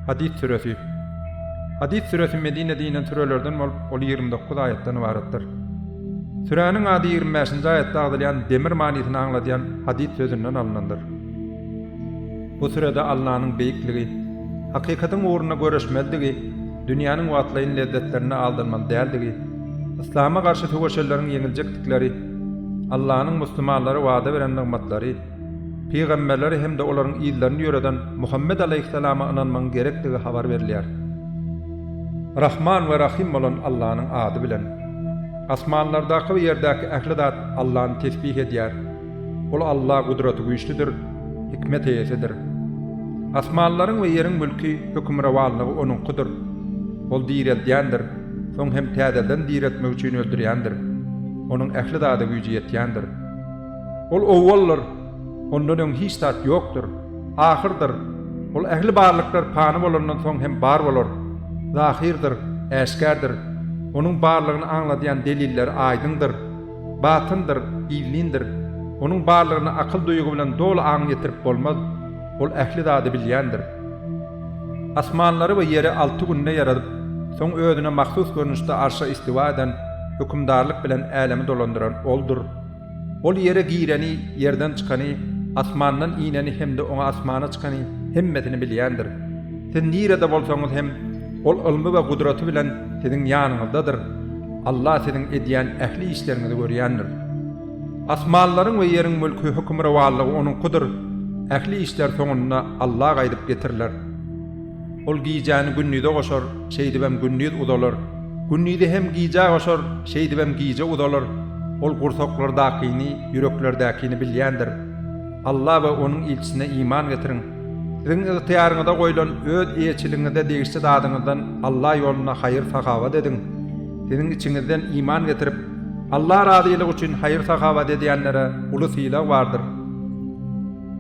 Hadys süresi. Hadys süresi Medinede inen sürelerden bolup, ol ýigrimi dokuz aýatdan ybaratdyr. Süräniň ady ýigrimi bäşinji aýatda agzalýan demir manysyny aňladýan hadys sözünden alnandyr. Bu sürede Allanyň beýikligi, hakykatyň ugrunda göreşmelidigi, dünýäniň wagtlaýyn lezzetlerine aldanmaly däldigi, yslama garşy söweşenleriň ýeňiljekdikleri, Allanyň musulmanlara wada beren nygmatlary, pygamberleri hem-de olaryň yzlaryny ýöreden Muhammet alaýhyssalama ynanmagyň gerekdigi habar berilýär. Rahman we Rahym bolan Allanyň ady bilen. Asmanlardaky we ýerdäki ähli zat Allany tesbih edýär. Ol Alla gudratygüýçlidir, hikmet eýesidir. Asmanlaryň we ýeriň mülki, hökümrowanlygy Onuňkydyr. Ol direldýändir. Soň hem täzeden diretmek üçin öldürýändir. Onuň ähli zada güýji ýetýändir. Ol owaldyr, ondan öň hiç zat ýokdur, ahyrdyr, ol ähli barlyklar pany bolandan soň hem bar bolar, zahyrdyr, äşgärdir, onuň barlygyny aňladýan delilleri aýdyňdyr, batyndyr, gizlindir, onuň barlygyna akyl-duýgy bilen doly aň ýetirip bolmaz. Ol ähli zady bilýändir. Asmanlary we ýeri alty günde ýaradyp, soň Özüne mahsus görnüşde arşa istiwa eden, hökümdarlyk bilen älemi dolandyran Oldur. Ol ýere gireni, ýerden çykany, asmandan ineni hem-de oňa asmana çykany, hemmesini bilýändir. Siz nirede bolsaňyz hem, Ol ylmy we gudraty bilen siziň ýanyňyzdadyr. Alla siziň edýän ähli işleriňizi görýändir. Asmanlaryň we ýeriň mülki, hökümrowanlygy Onuňkydyr, ähli işler soňunda Alla gaýdyp getiriler. Ol gijäni gündize goşar, şeýdibem gündiz uzalar, gündizi hem gijä goşar, şeýdibem gije uzalar, Ol gursaklardakyny, ýüreklerdäkini bilýändir. Alla we Onuň ilçisine iman getiriň. Siziň ygtyýaryňyza goýlan, öz eýeçiligiňize degişli zadyňyzdan Alla ýolunda haýyr-sahawat ediň. Siziň içiňizden iman getirip, Alla razylygy üçin haýyr-sahawat edýänlere uly sylag bardyr.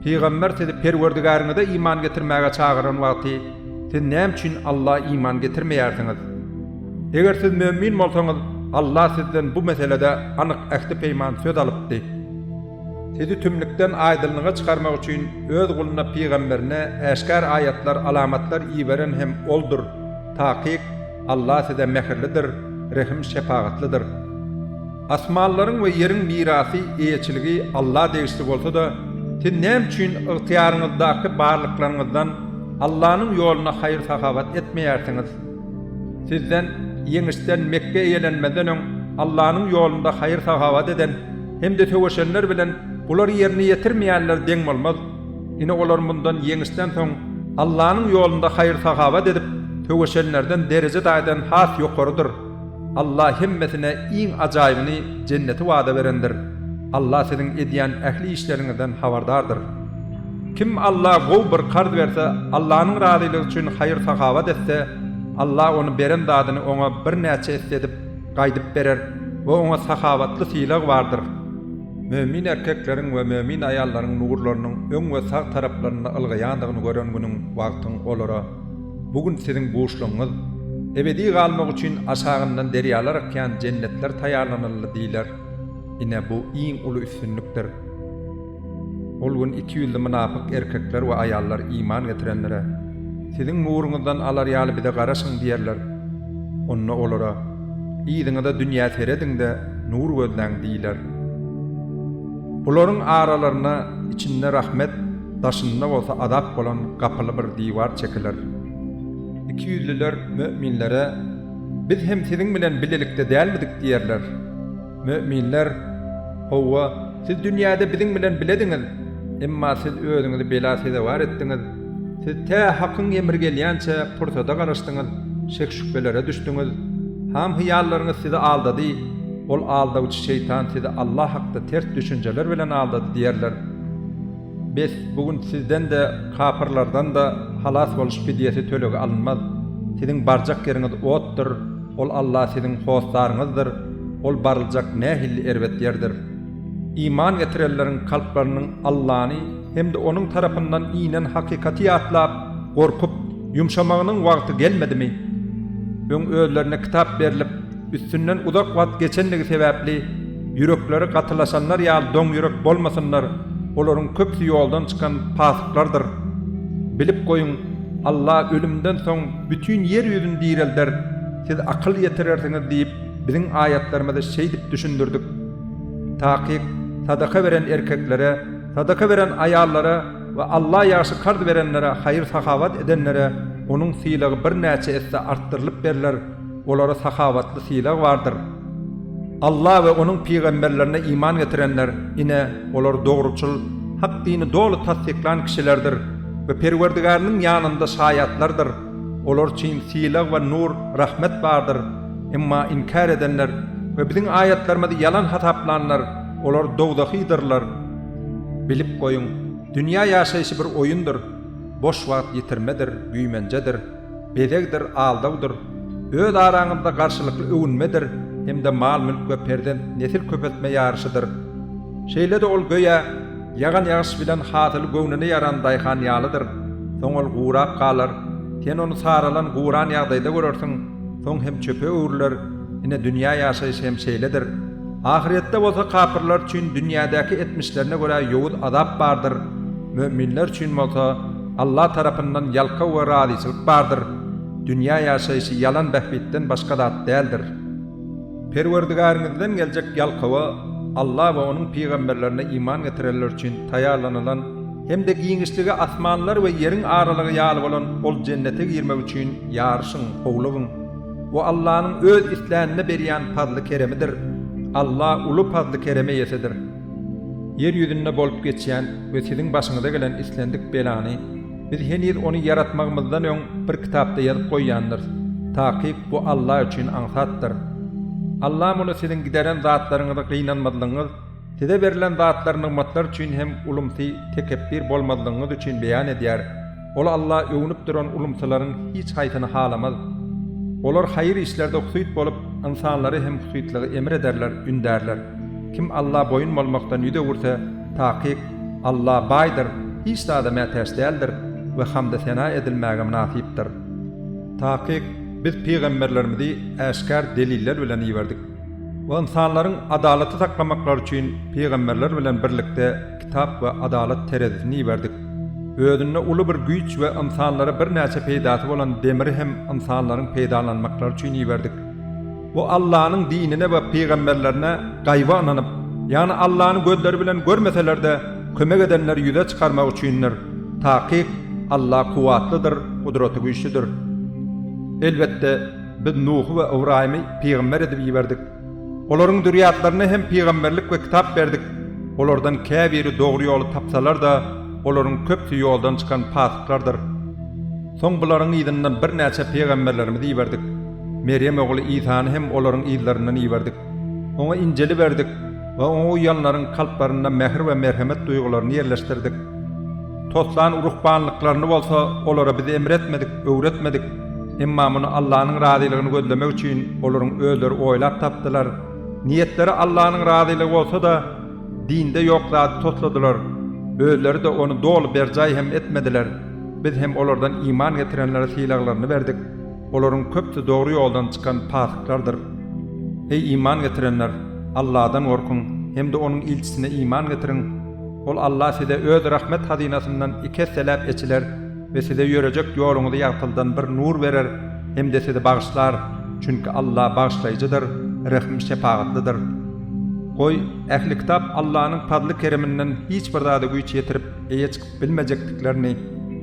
Pygamber sizi Perwerdigäriňize iman getirmäge çagyran wagty, siz näme üçin Alla iman getirmeýärsiňiz? Eger siz mömin bolsaňyz, Alla sizden bu meselede anyk ähti-peýman söz alypdy. Sizi tümlükden aýdyňlyga çykarmak üçin Öz guluna pygamberine äşgär aýatlar, alamatlar iberen hem Oldur. Takyk. Allah size mähirlidir, rehim-şepagatlydyr. Asmanlaryň we ýeriň mirasy, eýeçiligi Alla degişli bolsa-da, siz näme üçin ygtyýaryňyzdaky barlyklaryňyzdan Allanyň ýoluna haýyr-sahawat etmeýärsiňiz? Sizden, ýeňişden, Mekge eýelenmezden öň Allanyň ýolunda haýyr-sahawat eden hem-de söweşenler bilen bular ýerine ýetirmeýänler deň bolmaz. Ine, olar mundan ýeňişden soň Allanyň ýolunda haýyr-sahawat edip, söweşenlerden dereje daýdan has ýokarydyr. Alla hemmesine iň ajaýybyny, jenneti wada berendir. Alla siziň edýän ähli işleriňizden habardardyr. Kim Alla gowy bir karz berse, Allanyň razylygy üçin haýyr-sahawat etse, Alla ony beren zadyny oňa birnäçe esse edip, gaýdyp berer we oňa sahawatly sylagy bardyr. Mömin erkekleriň we mömin aýallaryň nurlarynyň öň we sag taraplarynda ylgaýandygyny gören günüň, wagtyň olara, Bu gün siziň buşlugyňyz, ebedi galmak üçin aşagyndan derýalar akýan jennetler taýýarlanyldy diýler. Ine, bu iň uly üstünlikdir. Ol gün iki ýüzli mynapyk erkekler we aýallar iman getirenlere, Siziň nuruňyzdan alar ýaly bize garaşyň diýerler. Onda olara, Yzyňyza dünýä serediň-de, nur gözläň diýler. Bularyň aralarynda içinde rahmet, daşynda bolsa azap bolan gapyly bir diwar çekiler. Ikiýüzlüler möminlere, Biz hem siziň bilen bilelikde dälmidik diýerler. Möminler, Hawa, siz dünýäde biziň bilen bilediňiz, emma siz özüňizi bela sezewar etdiňiz, siz tä Hakyň emri gelýänçä pursada garaşdyňyz, şek-şübhelere düşdüňiz, ham-hyýallaryňyz sizi aldady, ol aldawçy şeýtan sizi Allah hakda ters düşünjeler bilen aldady diýerler. Bes, bu gün sizden-de, kapyrlardan-da halas boluş fidýesi tölegi alynmaz. Siziň barjak ýeriňiz otdur, ol Allah siziň hossaryňyzdyr. Ol baryljak nähilli erbet ýerdir! Iman getirenleriň kalplarynyň Allany hem-de Onuň tarapyndan inen hakykaty ýatlap, gorkup, ýumşamagynyň wagty gelmedimi? Öň özlerine kitap berlip, üstünden uzak wagt geçendigi sebäpli, ýürekleri gatylaşanlar ýaly doňýürek bolmasynlar, olaryň köpüsi ýoldan çykan pasyklardyr. Bilip goýuň, Alla ölümden soň bütin ýer ýüzüni direlder, siz akyl ýetirersiňiz diýip, Biziň aýatlarymyzy şeýdip düşündirdik, Takyk, sadaka beren erkeklere, sadaka beren aýallara we Alla ýagşy karz berenlere, haýyr-sahawat edenlere onuň sylagy birnäçe esse artdyrylyp berler, olara sahawatly sylag bardyr. Alla we Onuň pygamberlerine iman getirenler, ine, olar dogruçyl, hak dini doly tassyklan kişilerdir we Perwerdigariniň ýanynda şaýatlardyr. Olar üçin sylag we nur, rahmet bardyr. Emma inkär edenler we Biziň aýatlarymyzy ýalan hasaplanlar, olar dowzahydyrlar. Bilip goýuň, dünýä ýaşaýşy bir oýundyr. Boş wagt ýitirmedir, güýmenjedir, bezegdir, aldawdyr. Öz araňyzda garşylykly öwünmedir hem-de mal-mülk we perzent, nesil köpeltme ýaryşydyr. Şeýle-de ol göýä, Ýagan ýagyş bilen hasyl göwnüne ýaran daýhan ýalydyr, soň ol gurap galar, sen ony saralan, guran ýagdaýda görersiň, soň hem çöpe öwrüler, ine, dünýä ýaşaýşy hem şeýledir. Ahyrýetde bolsa kapyrlar üçin dünýädäki etmişlerine görä ýowuz azap bardyr, möminler üçin bolsa Alla tarapyndan ýalkaw we razyçylyk bardyr, dünýä ýaşaýşy ýalan bähbitden başga zat däldir. Perwerdigäriňizden geljek ýalkawa Alla we Onuň pygamberlerine iman getirenler üçin taýýarlanylan hem-de giňişligi asmanlar we ýeriň aralygy ýaly bolan ol Jennete girmek üçin ýaryşyň, howlugyň. Bu Allanyň öz islänine berýän pazly-keremidir. Alla uly pazly-kerem eýesidir. Ýer ýüzünde bolup geçýän we siziň başyňyza gelen islendik belany, Biz heniz ony ýaratmagymyzdan öň bir kitapda ýazyp goýýandyrys, takyk bu Alla üçin aňsatdyr. Alla muny siziň gideren zatlaryňyzy gynanmazlygyňyz, size berlen zatlar nygmatlar üçin hem ulumsy, tekepbir bolmazlygyňyz üçin beýan edýär. Ol Alla öwnüp duran ulumsylaryň hiç haýsyny halamaz. Olar haýyr işlerde husyt bolup, ynsanlary hem husytlygy emr ederler, ündärler. Kim Alla boýun bolmakdan ýüz öwürse, Takyk, Alla baýdyr, hiç zada mätäç däldir we hamdy-sena edilmäge mynasypdyr. Takyk, Biz pygamberlerimizi äşgär deliller bilen iberdik. We ynsanlaryň adalaty saklamaklary üçin pygamberler bilen birlikde kitap we adalat terezisini iberdik. Özünde uly bir güýç we ynsanlara birnäçe peýdasy bolan demiri hem ynsanlaryň peýdalanmaklary üçin iberdik. Bu Allanyň dinine we pygamberlerine gaýba ynanyp, ýagny Allany gözleri bilen görmeseler-de, kömek edenleri ýüze çykarmak üçindir. Takyk, Alla kuwwatlydyr, gudraty güýçlüdir. Elbetde, Biz Nuhy we Ybraýymy pygamber edip iberdik. Olaryň zürýatlaryna hem pygamberlik we kitap berdik. Olardan käbiri dogry ýoly tapsalar-da, olaryň köpüsi ýoldan çykan pasyklardyr. Soň bularyň yzyndan birnäçe pygamberlerimizi iberdik. Merýem ogly Isany hem olaryň yzlaryndan iberdik. Oňa Injili berdik we oňa uýanlaryň kalplarynda mähir we merhemet duýgularyny ýerleşdirdik. Toslan ruhbanlyklaryny bolsa olara biz emretmedik, öwretmedik, emma muny Allanyň razylygyny gözlemek üçin olaryň özleri oýlap tapdylar, niýetleri Allanyň razylygy bolsa-da, dinde ýok zady tosladylar, özleri-de ony doly berjaý hem etmediler, biz hem olardan iman getirenlere sylaglaryny berdik. Olaryň köpüsi dogry ýoldan çykan pasyklardyr. Heý, iman getirenler, Allahdan gorkuň hem-de Onuň ilçisine iman getiriň! Ol Allah size Öz rahmet hazynasyndan iki esseläp eçiler we size ýörejek ýoluňyzy ýagtyldan bir nur berer hem-de sizi bagyşlar, çünki Allah Bagyşlaýjydyr, Rehim-şepagatlydyr. Goý, ähli kitap Allanyň pazly-kereminden hiç bir zada güýç ýetirip, eýe çykyp bilmejekdiklerini,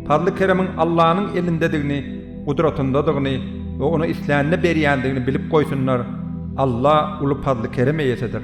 Pazly-keremiň Allanyň elindedigini, gudratyndadygyny we Ony islänine berýändigini bilip goýsunlar, Alla uly pazly-kerem eýesidir.